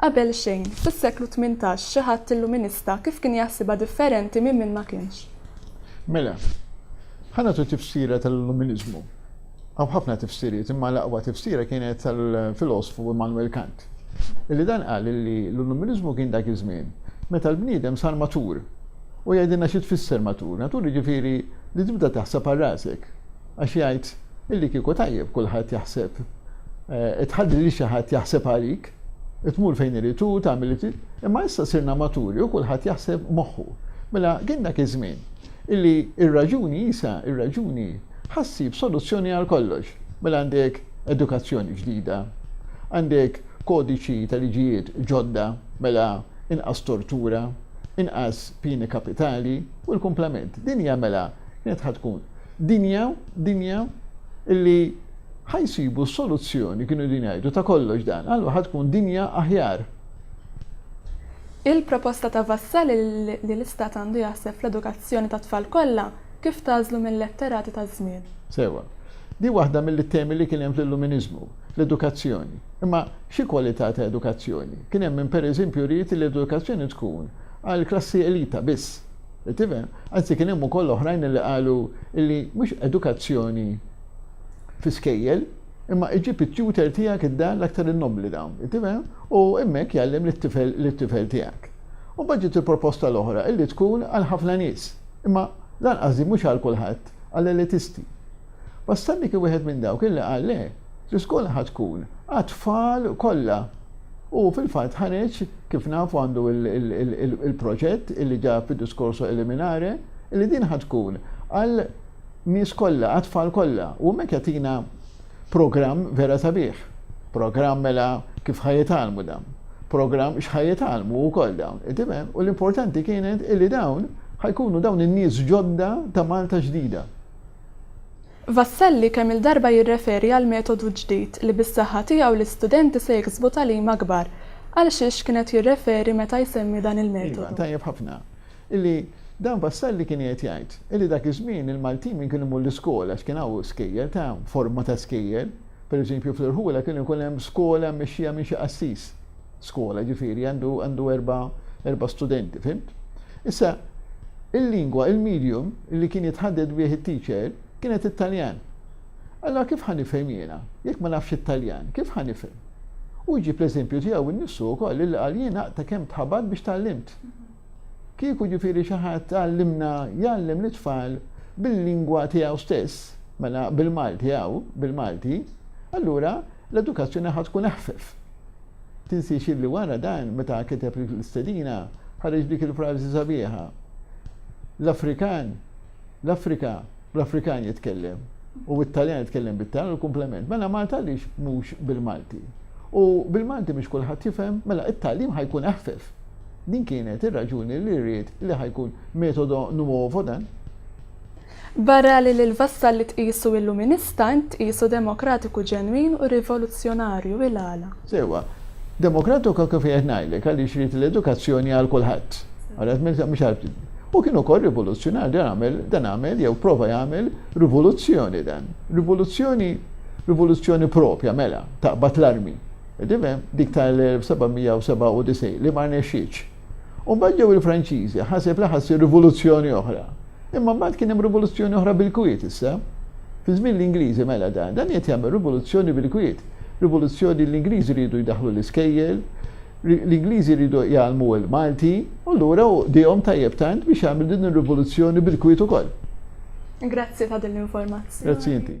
Qabel xejn, fis-seklu tmintax xi ħadd illuminista kif kien jaħsibha differenti minn min ma kienx? Mela, ħa nagħtu tifsira tal-illuminiżmu. Hawn ħafna tifsiriet imma l-aqwa tifsira kienet tal-filosfu Immanuel Kant, illi dan qal illi l-illuminiżmu kien dak iż-żmien meta l-bniedem sar matur. U jgħidilna xi tfisser matur. Matur jiġifieri li tibda taħseb għal rasek. Għax jgħid illi kieku tajjeb kulħadd jaħseb, tħalli lil xi ħadd jaħseb għalik. Tmur fejn irid hu, tagħmel li trid, imma issa sirna maturi u kulħadd jaħseb moħħu. Mela kien dak iż-żmien illi r-raġuni Għisa, ir-raġuni ħa ssib soluzzjoni għal kollox. Mela għandek edukazzjoni ġdida, għandek kodiċi ta' liġijiet ġodda, mela inqas tortura, inqas pieni kapitali u l-kumplament. Dinja mela kienet ħa tkun dinja, dinja illi Ħa jsibu soluzzjoni, kienu qegħdin jgħidu, ta' kollox dan. Allura ħa tkun dinja aħjar. Il-proposta ta' Vassalli li l-Istat għandu jaħseb fl-edukazzjoni tat-tfal kollha kif tagħżlu mil-letterati taż-żmien. Sewwa. Din waħda mill-ittemi li kien hemm fl-Illuminiżmu, l-edukazzjoni. Imma xi kwalità ta' edukazzjoni? Kien hemm min pereżempju ried li l-edukazzjoni tkun għall-klassi elita biss. Tifhem? Anzi kien hemm ukoll oħrajn li qalu li mhux edukazzjoni fi skejjel, imma iġib it-tutor tiegħek id-dar l-aktar innobbli dawn, tifhem? U hemmhekk jgħallem lit-tifel lit-tifel tiegħek. U mbagħad ġiet il-proposta l-oħra illi tkun għal ħafna nies, imma lanqas din mhux għal kulħadd, għall-elitisti. Bastanni kien wieħed minn dawk illi qal le, l-iskola ħa tkun għat-tfal kollha. U fil-fatt ħareġ, kif nafu għandu il-proġett illi ġab id-diskorso eliminare, illi din ħa tkun għal nies kollha, għat-tfal kollha u hemmhekk jagħtina programm vera sabiħ. Programm mela kif ħa jitgħallmu dawn. Programm x'ħa jitgħallmu wkoll dawn, tifhem? U l-importanti kienet illi dawn ħa jkunu dawn in-nies ġodda ta' Malta ġdida. Vassalli kemm-il darba jirreferi għal metodu ġdid li bis-saħħa tiegħu l-istudenti se jiksbu tagħlim akbar. Għal xiex kien qed jirreferi meta jsemmi dan il-metodu? Iva, tajjeb ħafna. Illi dan Vassalli kien qiegħed jgħid illi dak iż-żmien il-Maltin min kien imur l-iskola għax kien hawn skejjel ta' forma ta' skejjel, per eżempju fl-Irħula kienu jkun hemm skola mmexxija minn xi qassis, skola ġifieri għandu għandu erba' erba' studenti, fhimt? Issa il-lingwa, il-medium illi kien jitħadded bih it-teacher kienet it-Taljan. Allura kif ħa nifhem jiena jekk ma nafx it-Taljan, kif ħa nifhem? Hu jġib l-eżempju tiegħu innifsu wkoll illi qal jien aqta' kemm tħabad biex tgħallimt. Kieku ġifieri xi ħadd għallimna jgħallem lit-tfal bil-lingwa tiegħu stess, mela bil-Malti hawn, bil-Malti, allura l-edukazzjoni ħa tkun eħfef. Tinsiex illi wara dan meta kiteb l-istedina ħareġ dik il-frażi sabiħa, L-Afrikan, l-Afrika, Bl-Afrikan jitkellem u bit-Taljan jitkellem bit-Taljan u l-kumplement. Mela Malta għaliex mhux bil-Malti? U bil-Malti mhux kulħadd jifhem, mela it-tagħlim ħajkun eħfef. Din kienet ir-raġuni li rrid li ħajkun metodo nuovo dan. Barra li lil Vassalli tqisu illuminista, int tqisu demokratiku ġenwin u rivoluzzjonarju. Il-għala? Sewwa. Demokratika kif qiegħed ngħidlek għaliex ried l-edukazzjoni għal kulħadd. Ara t-tmexxija mhux għal ftit. U kien ukoll rivoluzzjonarju dan għamel dan għamel jew prova jagħmel rivoluzzjoni dan. Rivoluzzjoni rivoluzzjoni proprja mela taqbad l-armi. Qed tifhem? Dik tal-1797 li ma rnexxietx. U mbagħad ġew il-Franċiżi, ħaseb li ħa ssir rivoluzzjoni oħra. Imma mbagħad kien hemm rivoluzzjoni oħra bil-kwiet issa. Fi żmien l-Ingliżi mela dan, dan qed jagħmel rivoluzzjoni bil-kwiet. Rivoluzzjoni l-Ingliżi riedu jdaħħlu l-iskejjel, l-Ingliżi riedu jgħallmu l-Malti, u lura hu qdihom tajjeb tant biex jagħmel din ir-rivoluzzjoni bil-kwiet ukoll. Grazzi ta' din l-informazzjoni. Grazzi inti.